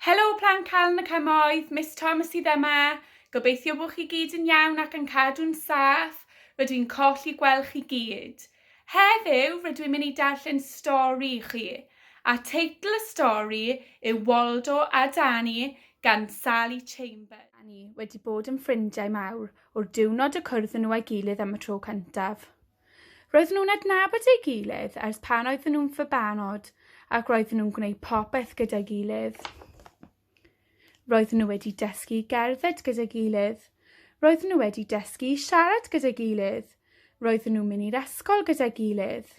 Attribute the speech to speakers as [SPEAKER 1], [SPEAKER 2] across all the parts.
[SPEAKER 1] Helo Plant Calon y Cymoedd, Miss Thomas sydd yma. Gobeithio bod chi gyd yn iawn ac yn cadw'n saff. Rydw i'n colli gweld chi gyd. Heddiw rydw i'n mynd i darllen stori i chi, a teitl y stori yw Waldo a Dani gan Sally Chambers. Dani wedi bod yn ffrindiau mawr o'r diwrnod y cwrdd nhw â'i gilydd am y tro cyntaf. Roedden nhw'n adnabod ei gilydd ers pan oedden nhw'n fabanod ac roedden nhw'n gwneud popeth gyda'i gilydd. Roedden nhw wedi dysgu gerdded gyda'i gilydd. Roedden nhw wedi dysgu siarad gyda'i gilydd. Roedden nhw'n mynd i'r ysgol gyda'i gilydd.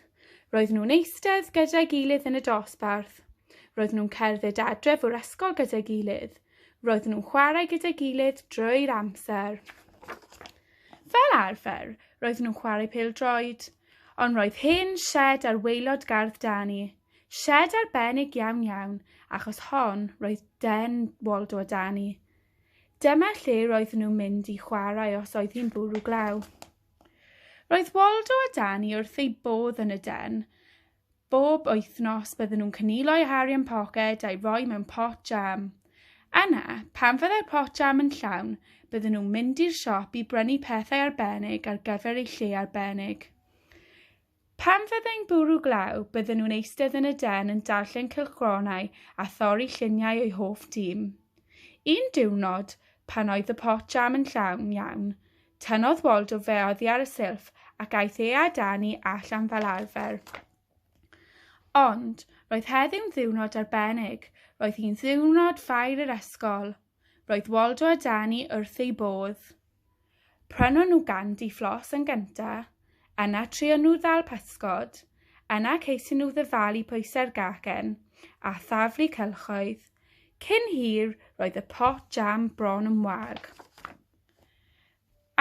[SPEAKER 1] Roedden nhw'n eistedd gyda'i gilydd yn y dosbarth. Roedden nhw'n cerdded adref o'r ysgol gyda'i gilydd. Roedden nhw'n chwarae gyda'i gilydd drwy'r amser. Fel arfer, roedden nhw'n chwarae pêl-droed, ond roedd hen sied ar waelod gardd Dani, sied arbennig iawn iawn, achos hon roedd den Waldo a Dani. Dyma lle roedden nhw'n mynd i chwarae os oedd hi'n bwrw glaw. Roedd Waldo a Dani wrth eu bodd yn y den, Bob wythnos bydden nhw'n cynilo ei Harry yn poced a'i roi mewn pot jam. Yna, pan fyddai'r pot jam yn llawn, bydden nhw'n mynd i'r siop i brynu pethau arbennig ar gyfer ei lle arbennig. Pan fyddai'n bwrw glaw, bydden nhw'n eistedd yn y den yn darllen cylchgronau a thorri lluniau o'i hoff dîm. Un diwrnod, pan oedd y pot jam yn llawn iawn, Tynnodd Wald o fe oddi ar y silff, ac aeth e a dân i allan fel arfer. Ond, roedd heddiw'n ddiwrnod arbennig, roedd hi'n ddiwrnod ffair yr ysgol. Roedd Waldo a Dani wrth eu bodd. Prynon nhw gandi fflos yn gynta, yna trio nhw ddal pysgod, yna ceisio nhw ddyfalu pwysau'r gagen, a thaflu cylchoedd. Cyn hir, roedd y pot jam bron yn wag.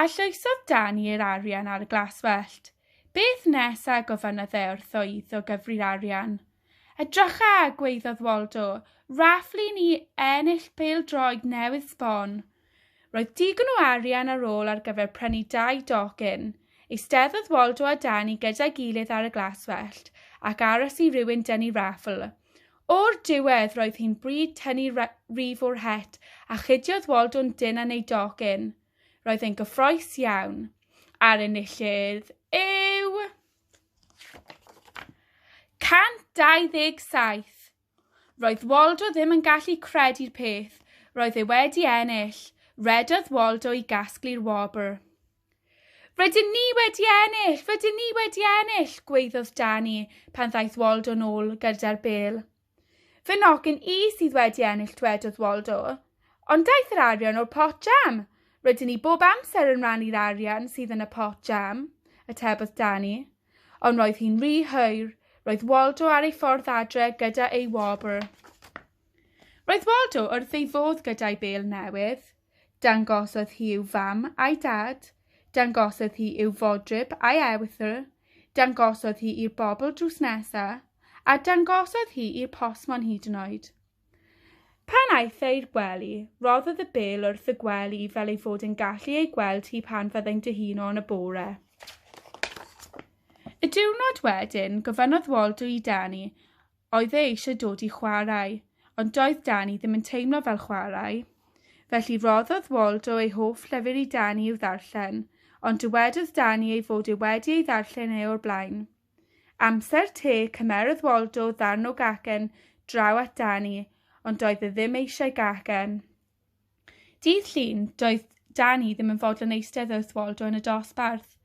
[SPEAKER 1] A llwysodd Dani yr arian ar y glaswellt. Beth nesa? gofynnodd e wrtho iddo gyfri'r arian. Edrycha! gwaeddodd Waldo. Raffl i ni ennill pêl-droed newydd sbon. Roedd digon o arian ar ôl ar gyfer prynu dau docyn. Eisteddodd Waldo a Dani gyda'i gilydd ar y glaswellt ac aros i rywun dynnu raffl. O'r diwedd roedd hi'n bryd tynnu rif o'r het a chudiodd Waldo'n dynn yn ei doc yn. Roedd e'n gyffroes iawn. A'r enillydd yw... 127! Roedd Waldo ddim yn gallu credu'r peth, roedd e wedi ennill! Rhedodd Waldo i gasglu'r wobr. Rydyn ni wedi ennill! Rydyn ni wedi ennill! gweiddodd Dani pan ddaeth Waldo nôl gyda'r bel. Fy nogyn i sydd wedi ennill, dwedodd Waldo. Ond daeth yr arian o'r pot jam. Rydyn ni bob amser yn rannu'r arian sydd yn y pot jam, atebodd Dani. Ond roedd hi'n rhy hwyr. Roedd Waldo ar ei ffordd adre gyda ei wobr. Roedd Waldo wrth ei fodd gyda'i bel newydd. Dangosodd hi i'w fam a'i dad. Dangosodd hi i'w fodryb a'i ewythr. Dangosodd hi i'r bobl drws nesa. A dangosodd hi i'r postmon hyd yn oed. Pan aeth e i'r gwely, roddodd y bel wrth y gwely fel ei fod e'n gallu ei gweld hi pan fyddai'n dyhuno yn y bore. Y diwrnod wedyn, gofynnodd Waldo i Dani Oedd e eisiau dod i chwarae, ond doedd Dani ddim yn teimlo fel chwarae. Felly rhoddodd Waldo ei hoff lyfr i Dani i'w ddarllen, ond dywedodd Dani ei fod e wedi ei ddarllen e o'r blaen. Amser te, cymerodd Waldo ddarn o gacen draw at Dani, ond doedd e ddim eisiau gacen. Dydd Llun, doedd Dani ddim yn fodlon eistedd wrth Waldo yn y dosbarth.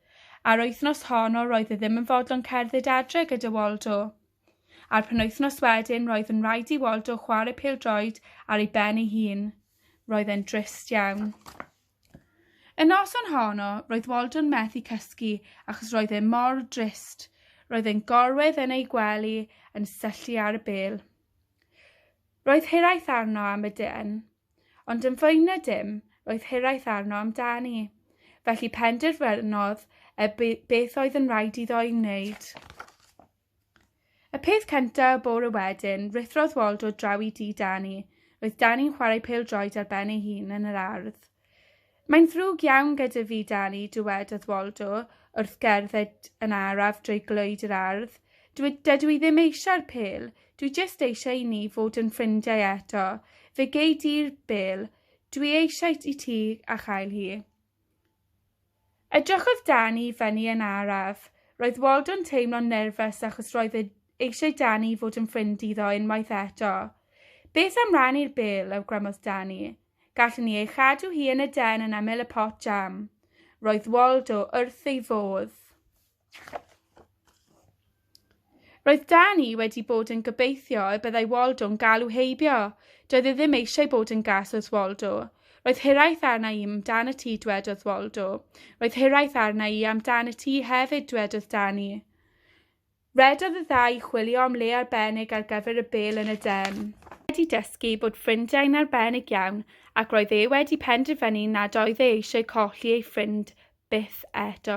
[SPEAKER 1] A'r wythnos honno roedd e ddim yn fodlon cerdded adre gyda Waldo. A'r penwythnos wedyn roedd yn rhaid i Waldo chwarae pêl-droed ar ei ben ei hun. Roedd e'n drist iawn. Y noson honno, roedd Waldo'n methu cysgu achos roedd e mor drist. Roedd e'n gorwedd yn ei gwely yn syllu ar y bêl. Roedd hiraeth arno am y den, ond yn fwy na dim, roedd hiraeth arno amdani. Felly penderfynodd e beth oedd yn rhaid iddo ei wneud. Y peth cynta y bore wedyn, rithrodd Waldo draw i dŷ Dani. Roedd Dani'n chwarae pêl-droed ar ben ei hun yn yr ardd. Mae'n ddrwg iawn gyda fi, Dani, dywedodd Waldo, wrth gerdded yn araf drwy glöyd yr ardd. Dwi, dydw i ddim eisiau'r pêl. Dwi jyst eisiau i ni fod yn ffrindiau eto. Fe gei di'r bêl. Dwi eisiau i ti a chael hi. Edrychodd Dani i fyny yn araf. Roedd Waldo'n teimlo'n nerfus achos roedd e eisiau Dani i fod yn ffrind iddo unwaith eto. Beth am rannu'r bêl, awgrymodd Dani. Gallwn ni ei chadw hi yn y den yn ymyl y pot jam. Roedd Waldo wrth ei fodd. Roedd Dani wedi bod yn gobeithio y byddai Waldo'n galw heibio. Doedd e ddim eisiau bod yn gas wrth Waldo. Roedd hiraeth arna i amdan y tŷ dwedodd Waldo. Roedd hiraeth arna i amdan y tŷ hefyd dwedodd Dani. Redodd y ddau chwilio am le arbennig ar gyfer y bel yn y den. Wedi dysgu bod ffrindiau'n arbennig iawn ac roedd e wedi penderfynu nad oedd e eisiau colli ei ffrind byth eto.